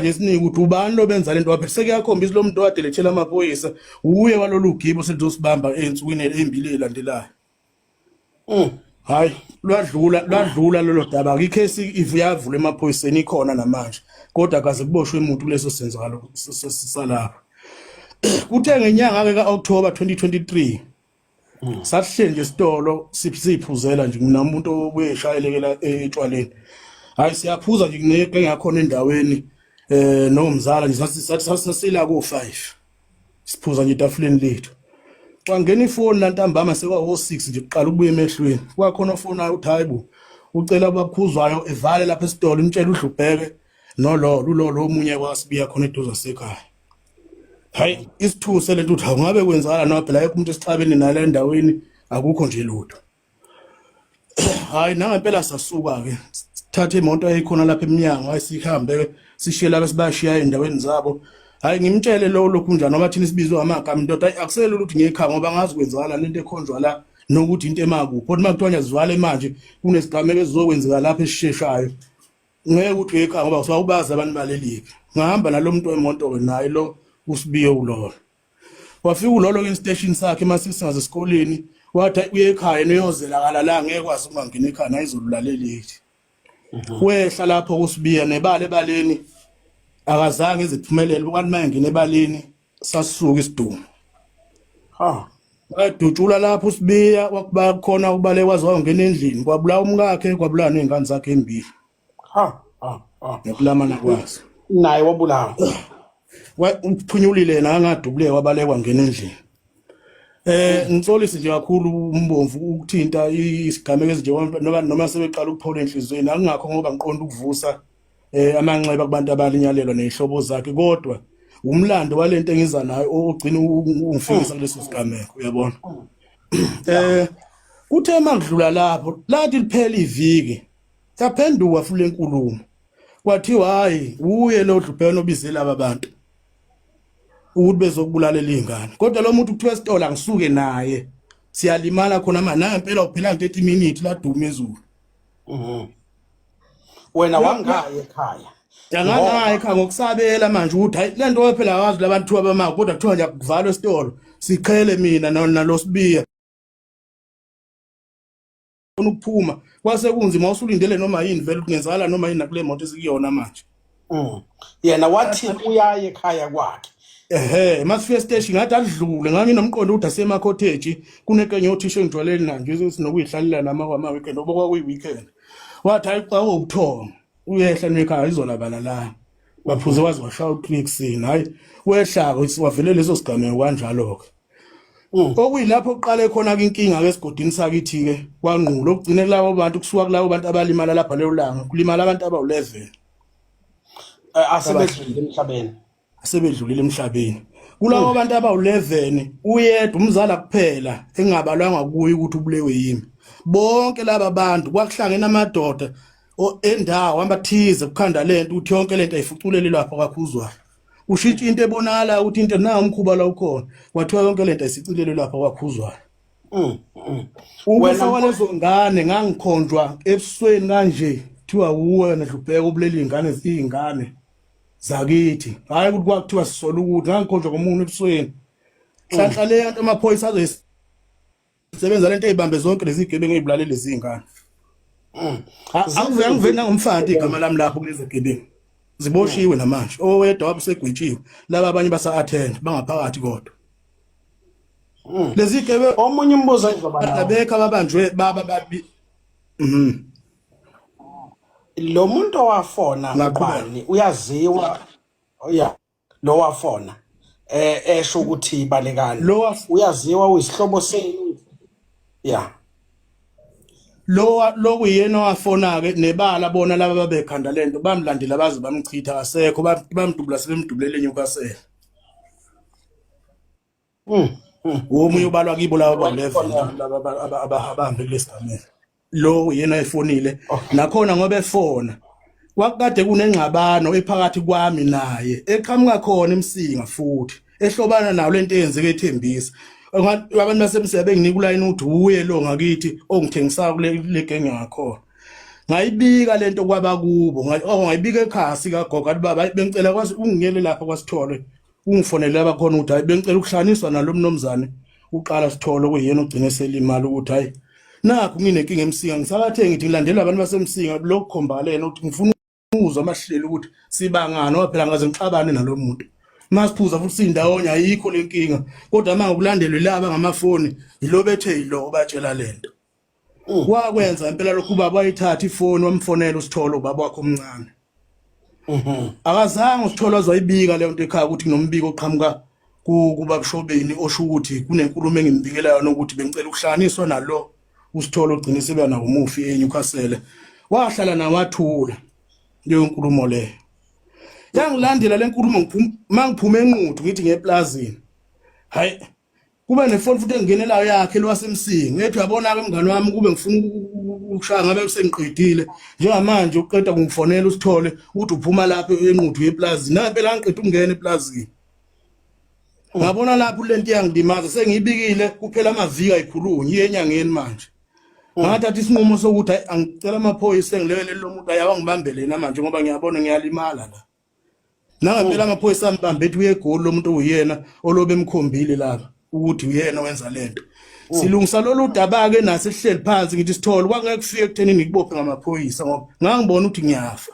ngesiningi ukuthi ubani lobenza lento waphe sekuyakhombisa lo muntu owadelethela amaphoyisa uye walolu gibo selizosibamba ensukwini embili elandelayo mm. hayi lwadlula lwadlula lolo daba ngicase ivuyavula emaphoyiseni ikhona namanje kodwa kaze kuboshwe umuntu kuleso senzakalo salapha kuthe ngenyanga ke ka-october 2023 Mm. Sasihleli nje esitolo siphuzela nje mina umuntu obuye eshayelekela etshwaleni. Hayi siyaphuza nje kuneke ngakhona endaweni eh nomzala nje sasila ko 5. Siphuza nje etafuleni lethu. Kwangena ifoni lantambama sekwa 06 nje kuqala ukubuya emehlweni. Kwakhona ofona uthi hayibo ucela abakhuzwayo evale lapha esitolo imtshela udlubheke nololo ulolo omunye kwasibiya khona eduze sekhaya. hayi isithuse lento uthi awungabe kwenzala noma phela yekho umuntu esixabene nala endaweni akukho nje lutho hayi nangempela sasuka ke thatha imoto eyikhona lapha eminyango ayisihambe sishiye laba sibashiya endaweni zabo hayi ngimtshele lo lokhu njani ngoba thina sibizwe amagama indoda ayi akusele ukuthi ngekha ngoba ngazi kwenzakala lento ekhonjwa la nokuthi into emakuphi kodwa uma kuthiwa ngiyazivala manje kunesigameko esizokwenzeka lapha esisheshayo ngeke uthi uyekhaya ngoba usuke ubazi abantu balelike ngahamba nalo muntu wemoto ke naye lo usibiye ulolo wafika ulolo kwi-station sakhe uma sisingaze esikoleni wathi uye ekhaya niyozela kala la ngeke kwazi ukungangena ekhaya nayizolulaleleli mhm. wehla lapho kusibiya nebala ebaleni akazange iziphumelele ukanti uma engena ebaleni sasuka isidumo ha wadutshula lapho usibiya wakuba khona ubale waze wangena endlini kwabulawa umkakhe kwabulawa nezingane zakhe embili ha ha ha nokulamana kwazo naye wabulawa uphunyulile nangadubule wabalekwa ngena endlini eh ngitsolisi nje kakhulu umbomvu ukuthinta isigameko ezinje noma noma sebeqala ukuphola enhlizweni akungakho ngoba ngiqonda ukuvusa eh amanxeba kubantu abalinyalelwa nezihlobo zakhe kodwa umlando walento engiza nayo ogcina ungifikisa hmm. kuleso sigameko uyabona hmm. eh kuthe makudlula lapho lathi liphela iviki saphenduka futhi lenkulumo kwathiwa hayi uye lo dlubheno obize laba bantu ukuthi bezokubulalela izingane kodwa lo muntu kuthiwa esitolo angisuke naye siyalimala khona manje nangempela uphela nje 30 minutes laduma ezulu mhm wena wangayi ekhaya Yangangayi kha ngokusabela manje ukuthi hayi lento wephela wazi labantu abamako kodwa kuthiwa nje kuvalwa esitolo siqhele mina nalosibiya ukuphuma kwase kunzima usulindele noma yini vele kungenzala noma yini nakule moto esikuyona manje Mm. yena wathi uyaye ekhaya kwakhe ehe masifika esiteshi ngathi adlule nganginomqondo ukuthi asemakhotheji kunekenye othisha engijwaleni nanje sinokuyihlalela lama kwama-weekend oba kwakuyi-weekend wathi hayi xa ubuthongo uyehla nekhaya izolabala la waphuze waze washaya utrixin hhayi wehlako wavele leso sigameko kanjalo-ke Mm. okuyilapho kuqale khona ke inkinga ke esigodini sakithi ke kwangqulo okugcine kulabo bantu kusuka kulabo bantu abalimala lapha lelo langa kulimala abantu abawu-11 asebedlulile emhlabeni asebedlulile emhlabeni kulabo mm. bantu abawu-11 uyedwa umzala kuphela engabalwanga kuye ukuthi ubulewe yimi bonke laba bantu kwakuhlangene amadoda endawo amathize kukhanda lento ukuthi yonke lento ayifuculele lapho kakhuzwayo ushintsha into ebonakala ukuthi into na umkhuba la ukhona kwathiwa yonke lento isicilele lapha kwakhuzwayo mm, mm. ukufa kwalezo ngane ngangikhonjwa ebusweni kanje kuthiwa uwena dlubheka ubuleli ingane izingane zakithi hayi ukuthi kwakuthiwa sisola ukuthi ngangikhonjwa komuntu ebusweni hlanhla le yanto amaphoyisa azoyis sebenza lento eyibambe zonke lezi gebengu ezibulale lezi ingane mm. angivela ngivela ngomfana igama lami lapho kulezi gebengu ziboshiwe mm. namanje owedwa wabe segwetshiwe laba abanye basa attend bangaphakathi kodwa mm. lezi gebe omunye umbuzo ayizoba nawo abekho ababanjwe baba babi mhm lo muntu owafona ngubani uyaziwa oya oh, lo wafona eh esho ukuthi balekani Lo waf- uyaziwa uyisihlobo senu ya lo lo kuyena owafona ke nebala bona laba babekhanda lento bamlandela baze bamchitha akasekho ba- bamdubula sebemdubulele eNewcastle Mm. Womunye ubalwa kibo laba ba-11 laba abahambe kulesigameko. Lo yena oyefonile nakhona ngoba efona. Kwakukade kunengxabano ephakathi kwami naye eqhamuka khona emsinga futhi ehlobana nawo lento eyenzeke ethembisa. Abantu basemsebe benginika ulayini ukuthi uye lo ngakithi ongithengisayo kule legenge ngakhona. ngayibika lento kwaba kubo oh, ngayibika ekhasi kagogo athi baba bengicela kwazi ungiyele lapha kwasithole ungifonele abakhona ukuthi hayi bengicela ukuhlanganiswa nalo mnomzane uqala sithole okuyena ugcine selimali ukuthi hayi nakho nginenkinga emsinga ngisakathe ngithi ngilandela abantu basemsinga lokho khombalena ukuthi ngifuna ukuzwa amahlelo ukuthi sibangani ngoba phela ngaze ngixabane nalo muntu masiphuza futhi sindawonye ayikho lenkinga kodwa manje ukulandelwe laba ngamafoni yilo bethe yilo obatshela lento Mm. wakwenza impela lokhu ubaba wayithatha ifoni wamfonela usitholo ubaba wakhe omncane mhm. akazange usitholo azoyibika leyo nto ekhaya ukuthi kunombiko oqhamuka kuba kushobeni osho ukuthi kunenkulumo engimbikela yona ukuthi bengicela ukuhlanganiswa nalo usitholo ugcine sebeyana umufi eNewcastle wahlala nawathula leyo nkulumo leyo yangilandela lenkulumo ngiphuma mangiphume enquthu ngithi ngeplazini hayi kube nefoni futhi engenelayo yakhe lwasemsingi ngethi uyabona-ke mngane wami kube ngifuna ukushaya ngabe sengiqedile njengamanje uqeda kungifonela usithole ukuthi uphuma lapho enquthu yeplazi nampela angiqeda ukungena eplazini ngabona lapho le nto iyangilimaza sengiyibikile kuphela amaviki ayikhulunye iye enyangeni manje ngathatha isinqumo sokuthi angicela amaphoyisa engilekele lo muntu ayawa ngibambele yena manje ngoba ngiyabona ngiyalimala la Nangampela amaphoyisa ambambe ethi uyegoli lomuntu uyena olobe emkhombile laba ukuthi uyena wenza lento. Mm. Silungisa lolu daba ke nathi sihleli phansi ngithi sithole kwangeke kufike kutheni ngikubophe ngamaphoyisa ngoba ngangibona ukuthi ngiyafa.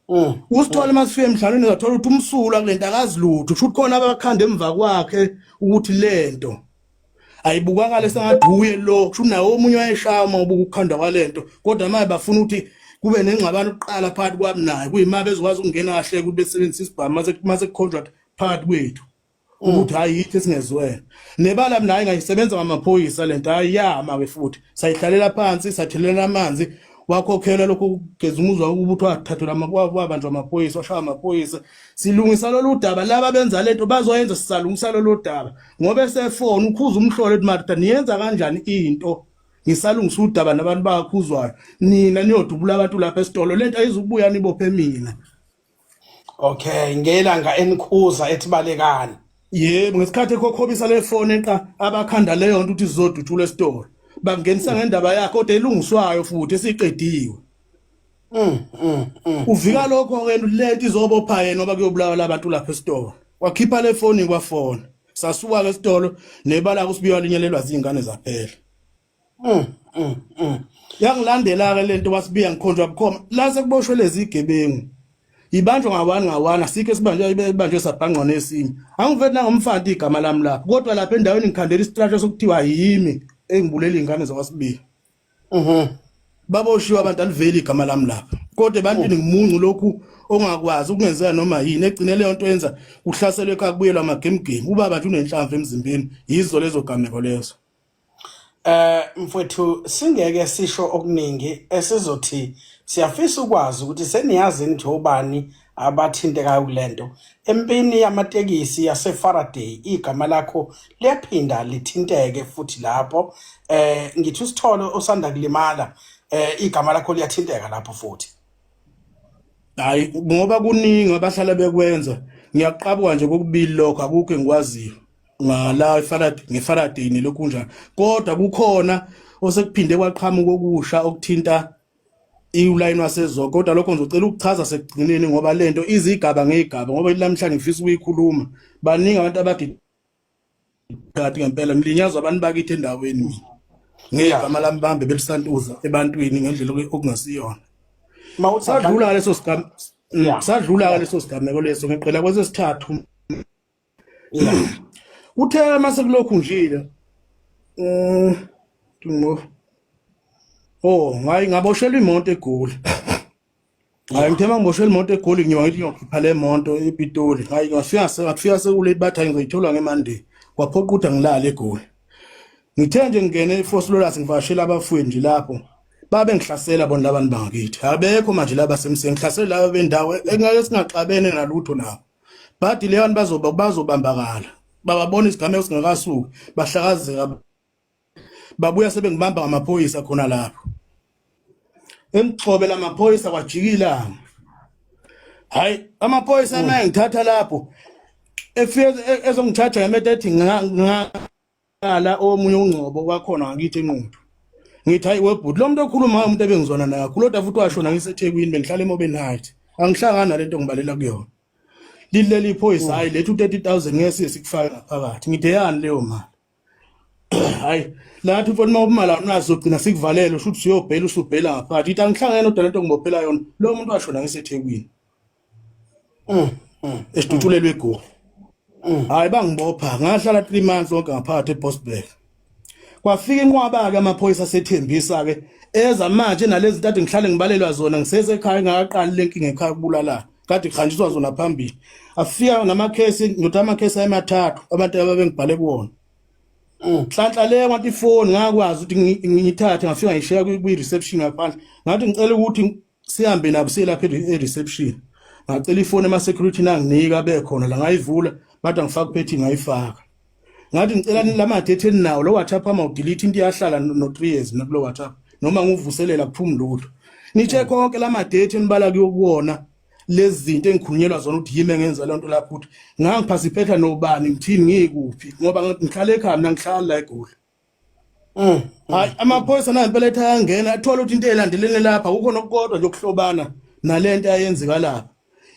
Mm. Usithole masifike emhlabeni ngathola ukuthi umsula kulento akazilutho kusho ukuthi khona abakhanda emva kwakhe ukuthi lento ayibukakala sengathi uye lo kusho naye omunye wayeshaya uma ubuka ukukhanda kwalento kodwa manje bafuna ukuthi kube nengxabano kuqala phakathi kwami naye kuyima bezokwazi ukungena kahle ukuthi besebenzise isibhamu mase mase contract phakathi kwethu ukuthi hayi yithi singezwene nebala mina hayi ngayisebenza ngamaphoyisa lento hayi yama ke futhi sayihlalela phansi sathelela amanzi wakhokhela lokho kugeza umuzwa ukuthi wathathelwa amabanjwa amaphoyisa washaya amaphoyisa silungisa lolu daba laba benza lento bazoyenza sisalungisa lolu daba ngoba esefona ukhuza umhlolo ethi marita niyenza kanjani into ngisalungisa udaba nabantu bakhuzwayo nina niyodubula abantu lapha esitolo lento ayizubuya nibophe mina okay ngelanga enikhuza ethibalekani yebo ngesikhathi ekhokhobisa le fone eqa abakhanda leyo nto ukuthi sizodutshula esitolo bangenisa ngendaba yakhe kodwa elungiswayo futhi esiqediwe Mm, mm, mm. Uvika lokho ke lento izobopha yena oba kuyobulawa labantu lapha esitolo. Wakhipha le foni kwafona. Sasuka ke esitolo nebala kusibiwa linyelelwa zingane zaphela. Mm, mm, mm. Yangilandela ke lento wasibiya ngikhonjwa bukhoma. La sekuboshwe lezi gebengu. Ibanjwa ngawani ngawani asikho sibanjwe ibanjwe sabhangqa nesinye. Angivethi nangomfanti igama lami lapha. Kodwa lapha endaweni ngikhandela isitrasha sokuthiwa yimi engibuleli ingane zakwasibiya. Mhm. Baboshiwe abantu aliveli igama lami lapha. Kodwa ebantwini oh. ngimuncu lokhu ongakwazi ukungenzeka noma yini egcine leyo nto yenza kuhlaselwe ekhaya kubuyelwa amagemgemi ubaba nje unenhlamvu emzimbeni yizo lezo gameko lezo eh mfowethu singeke sisho okuningi esizothi siyafisa ukwazi ukuthi seniyazi nje ubani abathintekayo kule nto. Empini yamatekisi yaseFaraday igama lakho liyaphinda lithinteke futhi lapho eh ngithi usithole osanda kulimala eh igama lakho liyathinteka lapho futhi. Hayi ngoba kuningi abahlala bekwenza ngiyaqabuka nje kokubili lokho akukho engikwaziyo ngala eFaraday ngeFaraday nelokhu kunjani kodwa kukhona osekuphinde kwaqhamuka okusha okuthinta iwulayini wasezoke kodwa lokho ngizocela ukuchaza sekugcineni ngoba le nto izigaba ngeyigaba ngoba namhlanje ngifisa ukuyikhuluma baningi abantu abagigati ngempela ngilinyazwa abantu bakithi endaweni mina ngegama lami bambe belisantuza ebantwini ngendlela okungasiyona sadlula leso sigameko mm, sadlula leso sigameko leso ngiqela kwesesithathu uthe uma sekulokhu njile um ngo oh ngayi ngaboshelwa imoto egoli hayi ngithe uma ngiboshelwa imoto egoli ngiyoba ngithi ngiyokhipha le moto epitoli hayi ngafika ngafika sekulate bathi hayi ngizoyithola ngemande kwaphoqa ukuthi angilale egoli ngithe nje ngingene efosulolas ngivashela abafowethu nje lapho babe ngihlasela bona labantu bangakithi abekho manje laba semseni ngihlasela laba bendawo engeke singaxabene nalutho nabo but leyo bazoba bazobambakala bababona isigameko singakasuki bahlakazeka babuya sebengibamba ngamaphoyisa khona lapho emgxobe lamaphoyisa kwajikila hayi amaphoyisa naye ngithatha lapho efike ezongithatha ngemetethi Ngala omunye ungcobo kwakhona ngakithi enquthu. Ngithi hayi webhuti lo muntu okhuluma umuntu ebengizwana naye kakhulu kodwa futhi washona ngiseThekwini bengihlala eMobeni Heights. Angihlangani nalento ngibalela kuyona. Lileli iphoyisa hayi lethu 30000 ngeke sikufaka ngaphakathi. Ngithe yani leyo mali. Hayi lathi mfoni uma ubumali awunazo ugcina sikuvalele usho ukuthi uyobhela usubhela ngaphakathi. Ithi angihlangani nodwa lento ngibophela yona. Lo muntu washona ngiseThekwini. mm, mm, esidutshulelwe egoli mm. hayi bangibopha ngahlala 3 months onke ngaphakathi eBosberg kwafika inqwaba-ke amaphoyisa asethembisa-ke eza manje nalezi ntathu ngihlale ngibalelwa zona ngisesekhaya engakaqali le nkinga ekhaya kubulalana kade kuhanjiswa zona phambili afika namakhesi ngithi amakhesi ayemathathu abantu ababengibhale kuwona mm. nhlanhla le kwathi ifoni ngakwazi ukuthi ngiyithathe ngafika ngishiya kwi-reception ngaphandle ngathi ngicela ukuthi sihambe nabo siye lapha e-reception ngacela ifoni ema-security nanginika bekhona la ngayivula bathi angifaka uphethi ngayifaka ngathi ngicela la madethi eninawo lo whatsapp ama udelete into iyahlala no-three years mina kulo whatsapp noma ngiwuvuselela kuphumi lutho nitshe konke la madethi enibala kuyokuwona lezi zinto engikhulunyelwa zona ukuthi yimi engenza loo nto lapho ukuthi ngangiphasiphetha nobani ngithini ngiyikuphi ngoba ngihlale ekhaya mina ngihlala la egoli Mm. Hayi amaphoyisa nayo impela ethi ayangena athola ukuthi into elandelene lapha kukho nokukodwa nje okuhlobana nalento ayenzeka lapha.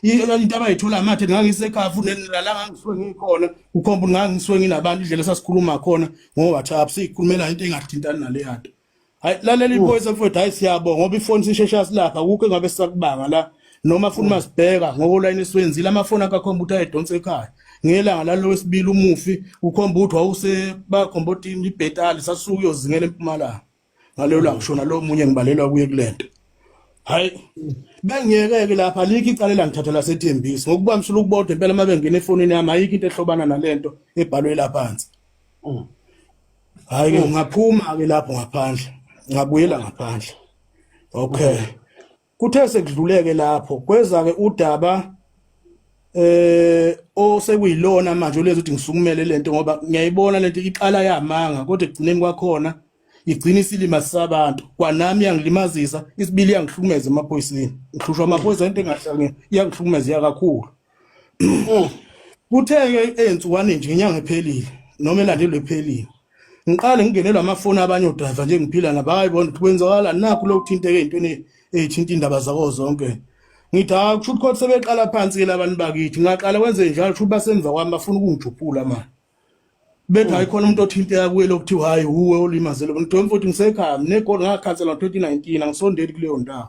Into abayithola mathe ngangisekhafu nalala ngangiswe ngikhona ukhomba ukuthi ngangiswe nginabantu indlela esasikhuluma khona ngo WhatsApp sikhulumela into engathintani naleyanto. hayi lalela iphoyisa mfowethu hayi siyabonga ngoba ifoni sisheshe yasilapha kukho engabe sisakubanga la noma funa masibheka ngokolayini esiwenzile amafoni akakhomba ukuthi ayedonsa ekhaya ngelanga lalo wesibili umufi ukhomba ukuthi wawuse bakhomba ukuthi ibhetali sasuke uyozingela empumalanga ngaleyo langa shona lo munye ngibalelwa kuye kulento hayi bengiyeke-ke lapha alikho icala elangithatha lasethembisi ngokuba msula ukubodwa impela uma bengena efonini yami ayikho into ehlobana nale nto ebhalwe laphansi mm. hayi ke ngaphuma ke lapho ngaphandle ngabuyela ngaphandle okay kuthe sekudluleke lapho kweza ke udaba eh osekuyilona manje olezi ukuthi ngisukumele lento ngoba ngiyayibona lento iqala yamanga kodwa ekugcineni kwakhona igcina isilima sabantu kwanami yangilimazisa isibili yangihlukumeza emaphoyiseni ngihlushwa amaphoyisa into engahlangene yangihlukumeza yakakhulu Mm. Kuthe ezinsukwani nje inyanga ephelile noma elandelwe ephelile. Ngiqale ngingenelwa amafoni abanye odriver nje ngiphila nabo hayi bona kwenzakala nakho lokuthinteka ezintweni ezithinta indaba zako zonke. Ngithi ha kusho ukuthi kodwa sebeqala phansi ke labantu bakithi ngaqala kwenze njalo kusho ukuthi basemva kwami bafuna ukungijuphula manje. bethi hayi khona umuntu othinteka kuye lokuthiwa hayi wuwe olimazele umuntu ntombi futhi ngisekhaya nginegoli ngakhansela ngo-2019 angisondeli kuleyo ndawo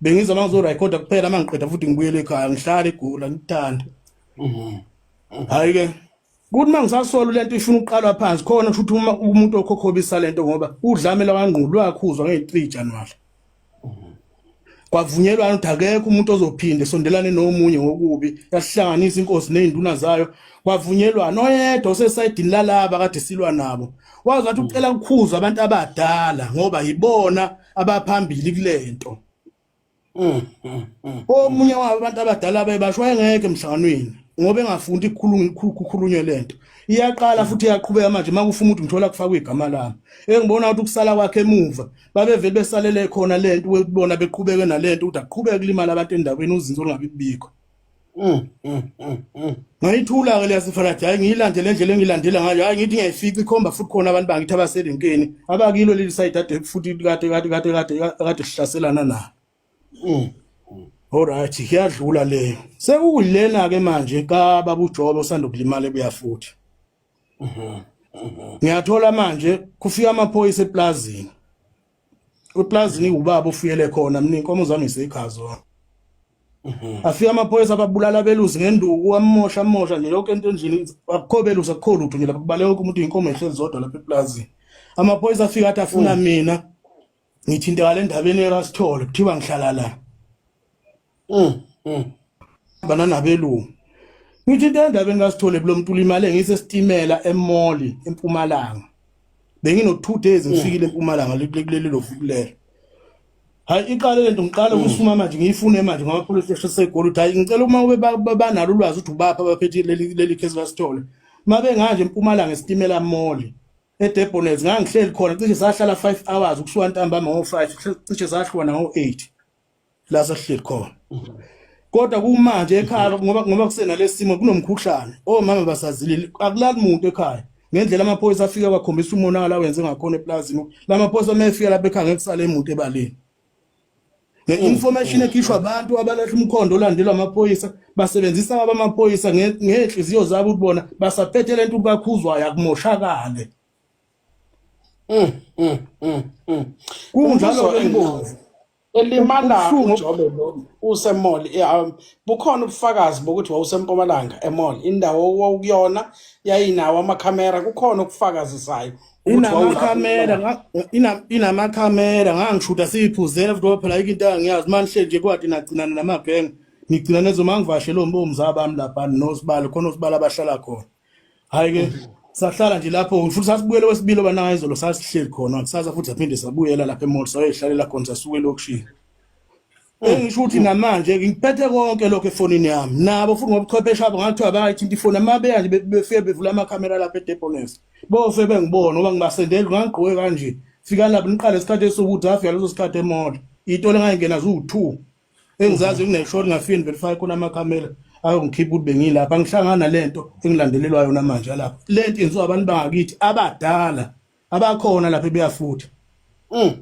bengiza uma ngizorekhoda kuphela uma ngiqeda futhi ngibuyele ekhaya ngihlale egula ngikuthanda hhayi-ke kuthi uma ngisasola le nto ifuna ukuqalwa phansi khona kusho ukuthi uma umuntu okhokhobisa le nto ngoba udlame lwakangqulu lwakhuzwa ngeyi-three januwari kwavunyelwana ukuthi akekho umuntu ozophinde sondelane nomunye ngokubi yasihlanganisa inkosi nezinduna zayo kwavunyelwana oyedwa osesayidini lalaba kade silwa nabo wazi wathi ucela kukhuzwa abantu abadala ngoba yibona abaphambili kulento mm, mm, mm. omunye wabo abantu abadala bebasho wayengeke emhlanganweni ngoba engafundi kukhulunywe lento iyaqala futhi iyaqhubeka manje makufuma ukuthi ngithola kufakwa igama lami engibona ukuthi ukusala kwakhe emuva babevele besalele khona le nto webona beqhubeke nale nto ukuthi aqhubeke kulimala abantu endaweni uzinzo lungabi kubikho mm, mm, mm, ngayithula-ke leyasifana thi hhayi ngiyilandele endlela engiyilandela ngayo hhayi ngithi ngiyayifica ikhomba futhi khona abantu bangithi abaserenkeni abakilo leli sayidi ade futhi kade kade kade kade kade sihlaselana nalo olright kuyadlula leyo sekukuyilena-ke manje kababujobe osanda ukulimala ebuya futhi ngiyathola manje kufika amaphoyisa eplazini eplazini ubaba ofuyele khona mina inkomo zami iseyigazo afika amaphoyisa ababulala abelusi ngenduku amosha amosha nje yonke into endlini akukho belusi akukho lutho nje lapha kubaleka wonke umuntu inkomo ehlezi zodwa lapha eplazini amaphoyisa afika athi afuna mm. mina ngithintekala endabeni erasithole kuthiwa ngihlala la mm, mm. bana nabelungu ngithinta endabeni kasithole kulo mntu ulimale ngisesitimela emoli empumalanga bengino 2 days mm. ngifikile empumalanga likuleli lo fukulelo hayi iqale lento ngiqala ukusuma manje ngiyifune manje ngoba police station segoli uthi hayi ngicela uma ube banalo ulwazi uthi ubapha abaphethe leli leli case kasithole mabe nganje empumalanga esitimela moli eDebonets ngangihleli khona cishe sahlala 5 hours ukusuka ntambama ngo-5 cishe sahlwana ngo-8 la sahleli khona kodwa kumanje ekhaya ngoba ngoba kusenalesimo kunomkhuhlane omama basazilile akulali muntu ekhaya ngendlela amaphoyisa afika kwakhombisa umonakala wenze ngakhona eplazini lamaphoyisa uma efika lapha ekhaya ngekusale imuntu ebaleni Nge-information ekhishwa abantu abalahla umkhondo olandelwa amaphoyisa basebenzisa abamaphoyisa ngey'nhliziyo zabo ukuthi bona basaphethe le nto ukuthi bakhuzwayo akumoshakale mm, mm, mm, kunjalo ingozi elimalayo ujobe lo usemall um, bukhona ubufakazi bokuthi wawusempumalanga emall indawo wawukuyona yayinawo amakhamera kukhona okufakazisayo inamakhamera nga- ina- inamakhamera ngangishuta siyiphuzela futhi ngoba phela yikho into angiyazi uma nihleli nje kwati nagcinana namagenge nigcina nezo uma ngivashele ombomza bami lapha nosibali khona osibali abahlala khona hhayi-ke sahlala nje lapho futhi sasibuyele wesibili obanayo izolo sasihleli khona kusasa futhi saphinde sabuyela lapha emall sayoyihlalela khona sasuke elokishini engisho ukuthi namanje ngiphethe konke lokho efonini yami nabo futhi ngobuchwepheshe abo ngathiwa bayithinta ifoni amabeya nje befike bevula amakhamera lapha edepones bose bengibona ngoba ngibasendeli ngangigqoke kanje fika lapho niqale isikhathi esokuthi afika leso sikhathi emoto itolo engayingena ziwu-two engizazi kuneshori ngafike niverify khona amakhamera ayongikhipha ukuthi bengilapha ngihlangana le nto engilandelelwa yona manje lapha le nto yenziwa abantu bangakithi abadala abakhona lapha ebeyafutha mm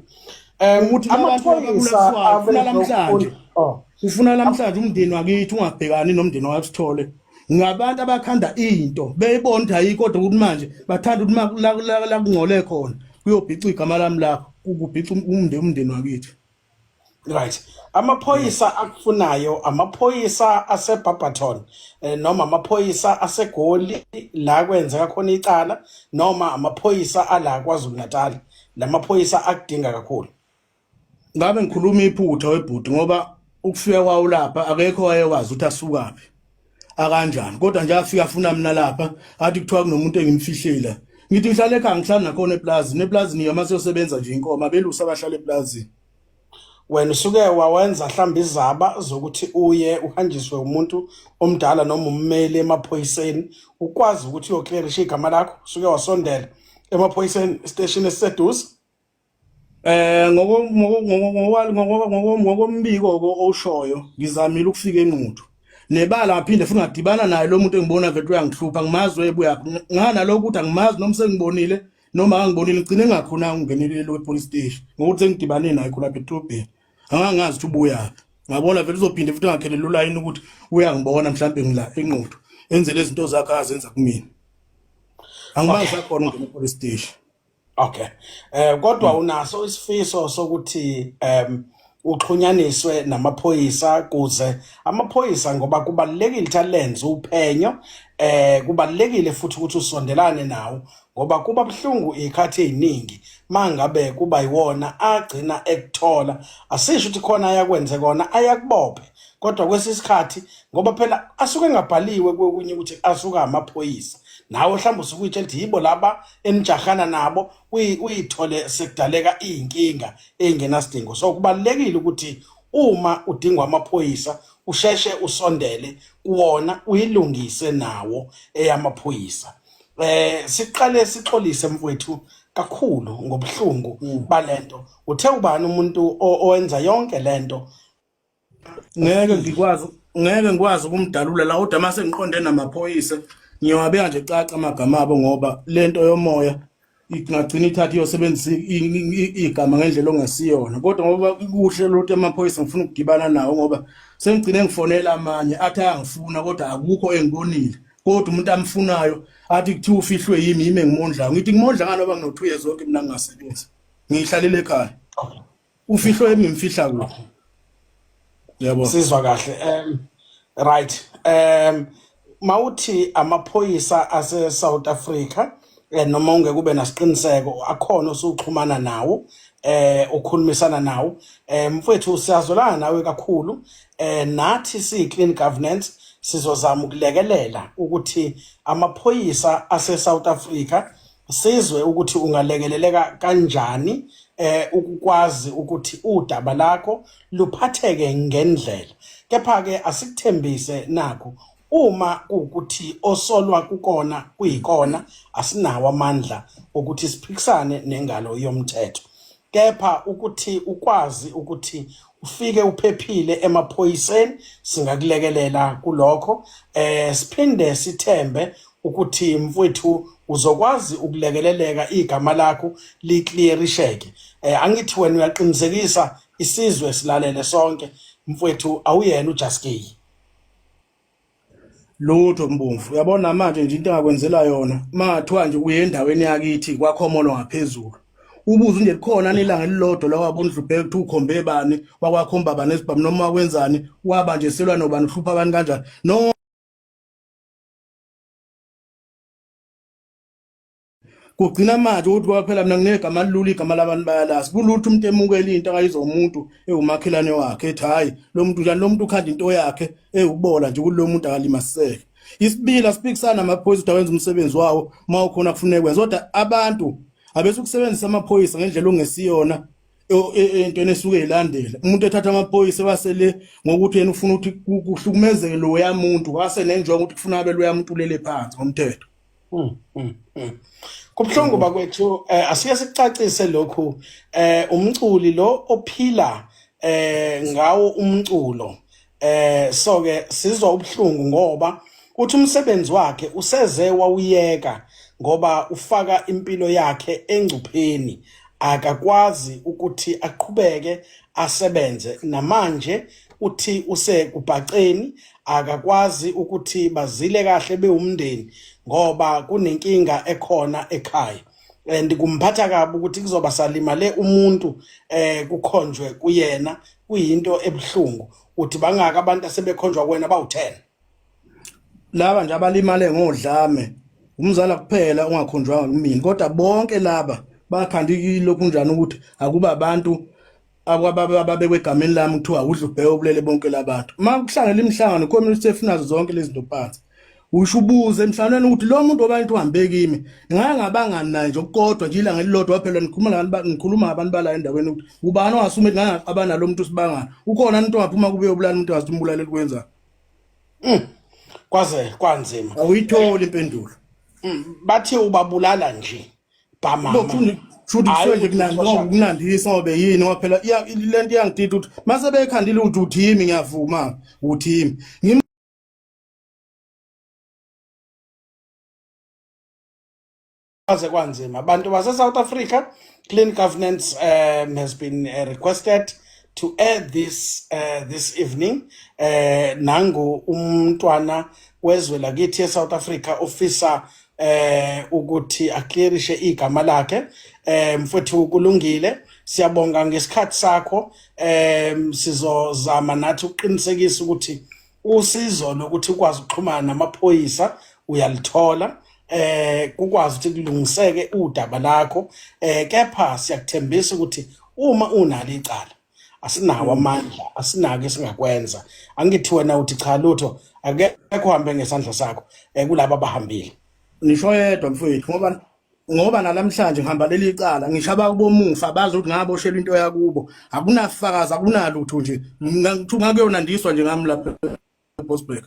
ukuthi amaphoyisa afuna namhlanje oh. ufuna namhlanje umndeni wakithi ungabhekani nomndeni wakhe sithole ngabantu abakhanda into beyibona ukuthi ayikho kodwa ukuthi manje bathanda ukuthi la kungcole khona kuyobhica igama lami lakho ukubhica umndeni umndeni wakithi right amaphoyisa akufunayo amaphoyisa aseBarberton eh, noma amaphoyisa aseGoli la kwenzeka khona icala noma amaphoyisa ala kwaZulu Natal lamaphoyisa akudinga kakhulu ngabe ngikhuluma iphutha webhuti ngoba ukufika kwawo lapha akekho wayekwazi ukuthi asukaphi akanjani kodwa nje afika afuna mina lapha athi kuthiwa kunomuntu engimfihlela ngithi ngihlala ekhaya ngihlala nakhona eplazini eplazini yama siyosebenza nje inkomo abelusa abahlala eplazini wena usuke wawenza mhlawumbe izaba zokuthi uye uhanjiswe umuntu omdala noma ummeli emaphoyiseni ukwazi ukuthi uyoclearisha igama lakho usuke wasondela emaphoyiseni esiteshini esiseduze Eh ngokombiko oshoyo ngizamile ukufika enquthu nebala ngaphinde futhi ngadibana naye lo muntu engibona vele uyangihlupha ngimazi webuya ngana lokho ukuthi angimazi noma sengibonile noma angibonile ngicine ngakhona ngingenelele wepolice station ngokuthi sengidibane naye khona betrobheni angangazi ukuthi ubuya ngabona vele uzophinde futhi ngakhelele ulayini ukuthi uyangibona mhlawumbe ngila enquthu enzele izinto zakhe azenza kumina angimazi akhona nginepolice station Okay. Eh kodwa hmm. unaso isifiso sokuthi em uxhunyaniswe namaphoyisa kuze amaphoyisa ngoba kubalekile ukuthi alenze uphenyo eh kubalekile futhi ukuthi usondelane nawo ngoba kuba buhlungu ikhathi eziningi mangabe kuba yiwona agcina ekuthola asisho ukuthi khona ayakwenze kona ayakubophe kodwa kwesisikhathi ngoba phela asuke engabhaliwe kokunye ukuthi asuka amaphoyisa nawe mhlawumbe usukuyitshela ukuthi yibo laba enijahana nabo uyithole sekudaleka iy'nkinga ey'ngenasidingo so kubalulekile ukuthi uma udingwa amaphoyisa usheshe usondele kuwona uyilungise nawo eyamaphoyisa eh siqale sixolise mfowethu kakhulu ngobuhlungu mm. balento uthe ubani umuntu owenza yonke lento ngeke ngikwazi ngeke ngikwazi ukumdalula la kodwa mase ngiqonde namaphoyisa ngiyowabeka nje caca amagama abo ngoba lento yomoya ingagcina ithatha iyosebenzisa igama ngendlela ongasiyona kodwa ngoba kuhle lothu amaphoyisa ngifuna ukugibana nawo ngoba sengigcine ngifonela amanye athi ayangifuna kodwa akukho engibonile kodwa umuntu amfunayo athi kuthiwa ufihlwe yimi yimi engimondlayo ngithi ngimondla ngani oba ngino-two years oke mina ngingasebenzi ngiyihlalele ekhaya ufihlo engimfihla kuphi yebo sizwa kahle um right um mawuthi amaphoyisa ase South Africa eh, noma ungeke ube nasiqiniseko akhona osuxhumana nawo eh ukhulumisana nawo eh mfowethu siyazolana nawe kakhulu eh nathi si clean governance sizozama ukulekelela ukuthi amaphoyisa ase South Africa sizwe ukuthi ungalekeleleka kanjani eh ukukwazi ukuthi udaba lakho luphatheke ngendlela kepha ke asikuthembise nakho uma kuwukuthi osolwa kukona kuyikona asinawo amandla okuthi siphikisane nengalo yomthetho kepha ukuthi ukwazi ukuthi ufike uphephile emaphoyiseni singakulekelela kulokho eh siphinde sithembe ukuthi mfwethu uzokwazi ukulekeleleka igama lakho liclearisheke eh angithi wena uyaqinisekisa isizwe silalele sonke mfwethu awuyena uJaskey lutho mbumfu uyabona manje nje into engakwenzela yona mathiwa nje uye endaweni yakithi kwakhomolo ngaphezulu ubuze nje likhona nilanga elilodwa lawabo ndlubheke kuthi ukhombe bani wakwakhomba bani esibhamu noma wakwenzani waba nje selwa nobani uhlupha abantu kanjani no kugcina manje ukuthi kwaphela mina nginegama lilula igama labantu bayalazi kulutho umuntu emukela into akayizo umuntu ewumakhelane wakhe ethi hayi lo muntu njani lo muntu ukhanda into yakhe ewubola nje kulo muntu akalimaseke isibila siphikisana amaphoyisa ukuthi awenza umsebenzi wawo uma ukhona kufuneka kwenza kodwa abantu abesukusebenzisa amaphoyisa ngendlela ongesiyona e, e, entweni esuke ilandela umuntu ethatha amaphoyisa wasele ngokuthi yena ufuna ukuthi kuhlukumezeke loya muntu wase nenjongo ukuthi kufuna abe loya muntu ulele phansi ngomthetho Hmm, hmm, hmm. Kubuhlungu bakwethu eh asike sicacise lokhu eh umculi lo ophila eh ngawo umculo eh so ke sizwa ubuhlungu ngoba uthi umsebenzi wakhe useze wawuyeka ngoba ufaka impilo yakhe engcupheni akakwazi ukuthi aqhubeke asebenze namanje uthi usekubhaceni akakwazi ukuthi bazile kahle bewumndeni ngoba kunenkinga ekhona ekhaya and kumphatha kabi ukuthi kuzoba salimale umuntu eh kukhonjwe kuyena kuyinto ebuhlungu uthi bangaka abantu asebekhonjwa kuwena bawu10 laba nje abalimale ngodlame umzala kuphela ungakhonjwanga kumina kodwa bonke laba bakhanda ilokhu njani ukuthi akuba abantu akwababa ababekwe egameni lami kuthiwa udla ubheke ubulele bonke labantu uma kuhlangela imihlangano community efunazo zonke lezi zinto phansi usho ubuze emhlanganweni ukuthi lo muntu obantu uhambe kimi ngake ngabangani naye nje okukodwa nje ilanga elilodwa phela nikhuluma ngabantu nikhuluma ngabantu bala endaweni ukuthi ubani ongasume ngake ngaqabana lo muntu sibangana ukhona umuntu ongaphuma kube ubulala umuntu wazi umbulala elikwenza mm. kwaze kwanzima awuyitholi impendulo mm. bathe ubabulala nje kunandisa obe yini ngoba phela le nto iyangidida ukuthi mase bekhandile ukuthi uthimi ngiyavuma uthimi aze kwanzima abantu base-south africa clean governance um has been uh, requested to air this uh, this evening um uh, nangu umntwana wezwe lakithi e-south africa ofisa eh ukuthi aclearishe igama lakhe eh mfowethu kulungile siyabonga ngesikhathi sakho eh sizozama nathi ukuqinisekisa ukuthi usizo lokuthi ukwazi ukuxhumana namaphoyisa uyalithola eh kukwazi ukuthi kulungiseke udaba lakho eh kepha siyakuthembisa ukuthi uma unalo icala asinawo mm. amandla asinako esingakwenza angithi wena uthi cha lutho akekho hambe ngesandla sakho eh, kulabo abahambile ngisho yedwa mfowethu ngoba ngoba nalamhlanje ngihamba leli cala ngishaba kubomufa bazi ukuthi ngaboshelwa into yakubo akunafakazi akunalutho nje ngithu ngakuyona ndiswa nje ngami lapha Bosberg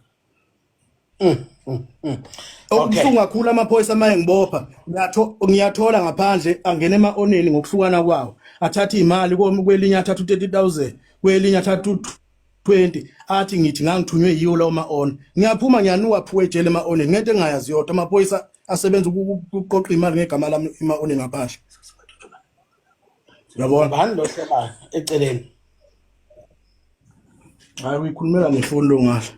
mm, mm, mm. okubuhlungu kakhulu amaphoyisa amaye ngibopha ngiyathola ngaphandle angena ema-oneni ngokuhlukana kwawo athathe iy'mali kwelinye athathe u-thirty thousand kwelinye athathe u-twenty athi ngithi ngangithunywe yiwo lawo ma-on ngiyaphuma ngiyanuka phuka ejele ema-onen ngento engingayazi yodwa amaphoyisa asebenza ukuqoqa imali ngegama lami ema-onen ngaphandle Yabona bani lo hleba eceleni. Hayi uyikhulumela ngefoni lo ngasho.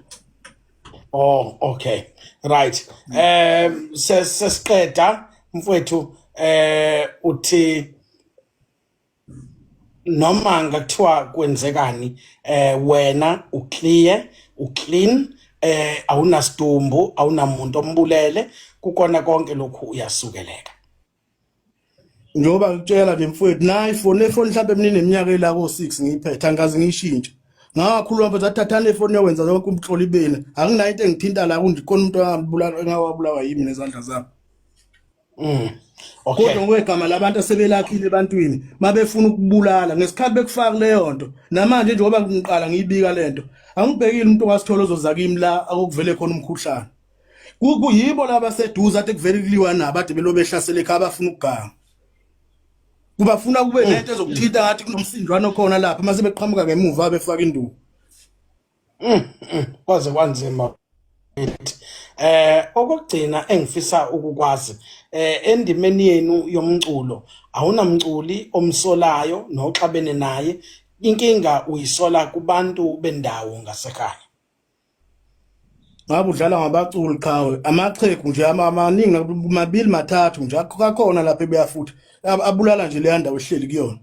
Oh okay. Right. Eh sesiqeda mfowethu eh uthi noma ngakuthiwa kwenzekani eh wena uclear uclean eh awunasidumbu awunamuntu ombulele kukona konke lokhu uyasukeleka njengoba ngikutshela nje mfowethu nayi foni efoni mhlawumbe emineminyaka ela ko-six ngiyiphethe angikaze ngiyishintshe ngakhuluma mfethu athathane ifoni yokwenza yonke umhloli bena anginayo into engithinta la kundikhona umuntu angabulala engawabulawa yimi nezandla zami mm okay kodwa ngokwegama labantu asebelakhile ebantwini mabefuna ukubulala ngesikhathi bekufaka leyo nto namanje njengoba ngiqala ngiyibika lento angibhekile umuntu wasithola ozoza kimi la akuvele khona umkhuhlane kuyibo laba seduze athi kuvele kuliwa nabo ade belo behlasele ekhaya bafuna ukuganga kubafuna kube mm. lento ezokuthinta ngathi kunomsindwana okhona lapha mase beqhamuka ngemuva befaka induku mm, mm. kwaze kwanzima eh okugcina engifisa ukukwazi eh endimeni yenu yomculo awunamculi omsolayo noxabene naye inkinga uyisola kubantu bendawo ngasekhaya ngabe udlala ngabaculi qhawe amachegu nje amaningi mabili mathathu nje akakhona lapha ebuya futhi abulala nje leya ndawo ehleli kuyona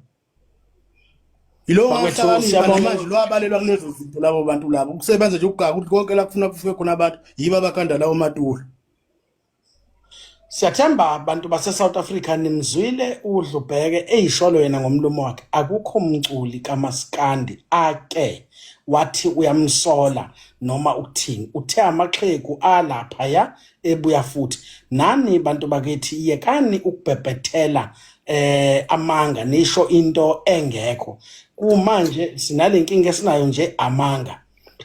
yilowo ngahlakanipha namanje lo abalelwa kulezo zinto labo bantu labo ukusebenza nje ukugaka ukuthi konke la kufuna kufike khona abantu yibo abakanda lawo matula Siyathemba bantu base South Africa nimzwile udlubheke eyisholo yena ngomlomo wakhe akukho mculi kamaskandi ake wathi uyamsola noma ukuthini uthe amaxhegu alapha ya ebuya futhi nani bantu bakithi yekani ukubhebhethela eh amanga nisho into engekho kumanje sinalenkinga esinayo nje amanga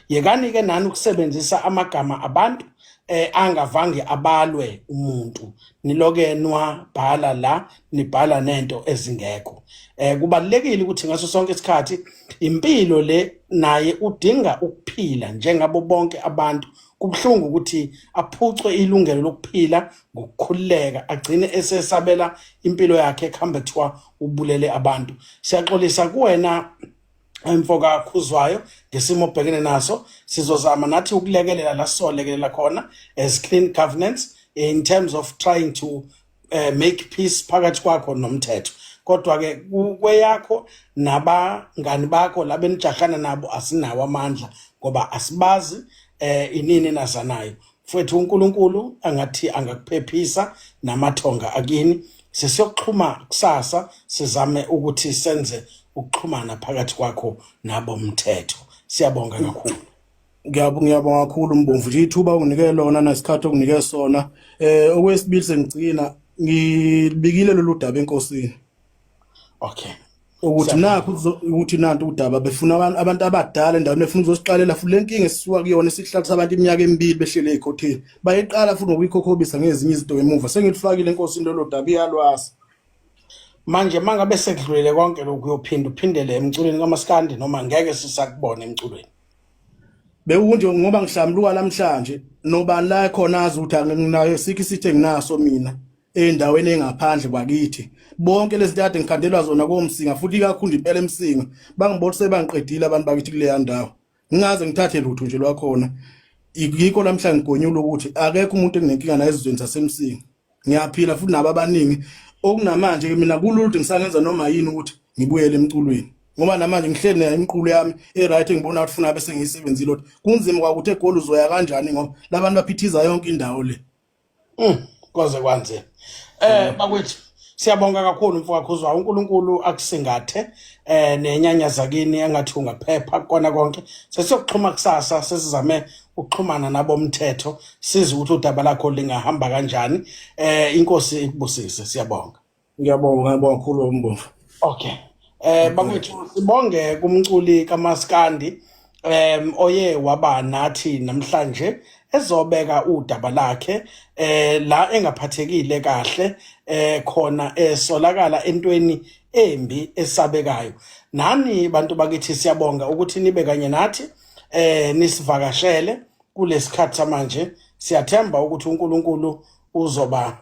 yekani-ke nani ukusebenzisa amagama abantu eh angavange abalwe umuntu niloke nwabhala la nibhala nento ezingekho eh kubalekile ukuthi ngaso sonke isikhathi impilo le naye udinga ukuphila njengabo bonke abantu kubhlungu ukuthi aphucwe ilungelo lokuphila ngokukhululeka agcine esesabela impilo yakhe ekuhambe kuthiwa ubulele abantu siyaxolisa kuwena emfoka khuzwayo ngesimo obhekene naso sizozama nathi ukulekelela la sizolekelela khona as clean governance in terms of trying to uh, make peace phakathi kwakho nomthetho kodwa ke kweyakho nabangani bakho labenijahana nabo asinawo amandla ngoba asibazi eh inini nazanayo Mfwethu uNkulunkulu angathi angakuphephisa namathonga akini. Sesiyokuxhuma kusasa sizame ukuthi senze ukuxhumana phakathi kwakho nabo mthetho. Siyabonga kakhulu. Ngiyabonga ngiyabonga kakhulu Mbomvu nje ithuba unginike lona nesikhathi okunike sona. Eh okwesibili sengigcina ngibikile lolu daba enkosini. okay ukuthi nakho ukuthi nanti udaba befuna abantu abantu abadala endaweni befuna uzoziqalela futhi lenkinga esisuka kuyona isihlakisa abantu iminyaka emibili behlele ekhotheni bayiqala futhi ngokuyikhokhobisa ngezinye izinto emuva sengilifakile inkosi into lodaba iyalwazi manje mangabe sekudlulile konke lokhu uyophinda uphindele emculweni kamaskandi noma ngeke sisakubona emculweni bewunje ngoba ngihlamluka namhlanje nobani la khona azi ukuthi anginayo sikho isithe nginaso mina endaweni engaphandle kwakithi bonke lezi ntade ngikhandelwa zona komsinga futhi ikakhulu impela emsinga bangibolise bangiqedile abantu bakithi kuleya ndawo ngingaze ngithathe lutho nje lwakhona yikho lamhla ngigonyula ukuthi akekho umuntu enginenkinga naye ezizweni zasemsinga ngiyaphila futhi nabo abaningi okunamanje ke mina kululde ngisangenza noma yini ukuthi ngibuyele emculweni ngoba namanje ngihleli nayo imiqulu yami e-right ngibona ukuthi funa bese ngiyisebenzile ukuthi kunzima kwakuthi egoli uzoya kanjani ngoba labantu baphithiza yonke indawo le Mm, kwaze kwanzima eh mm. bakwethu siyabonga kakhulu mfowakho uzwa uNkulunkulu akusingathe eh nenyanya zakini engathi ungaphepha kona konke sesiyokuxhuma kusasa sesizame ukuxhumana nabomthetho size ukuthi udaba lakho lingahamba kanjani eh inkosi ikubusise siyabonga Ngiyabonga, ngiyabonga kakhulu umbomvu. Okay. Eh bakwethu sibonge kumculi kaMaskandi em oye waba nathi namhlanje ezobeka udaba lakhe eh la engaphathekile kahle eh khona esolakala entweni embi esabekayo nani bantu bakithi siyabonga ukuthi nibe kanye nathi eh nisivakashele kulesikhathi samanje siyathemba ukuthi uNkulunkulu uzoba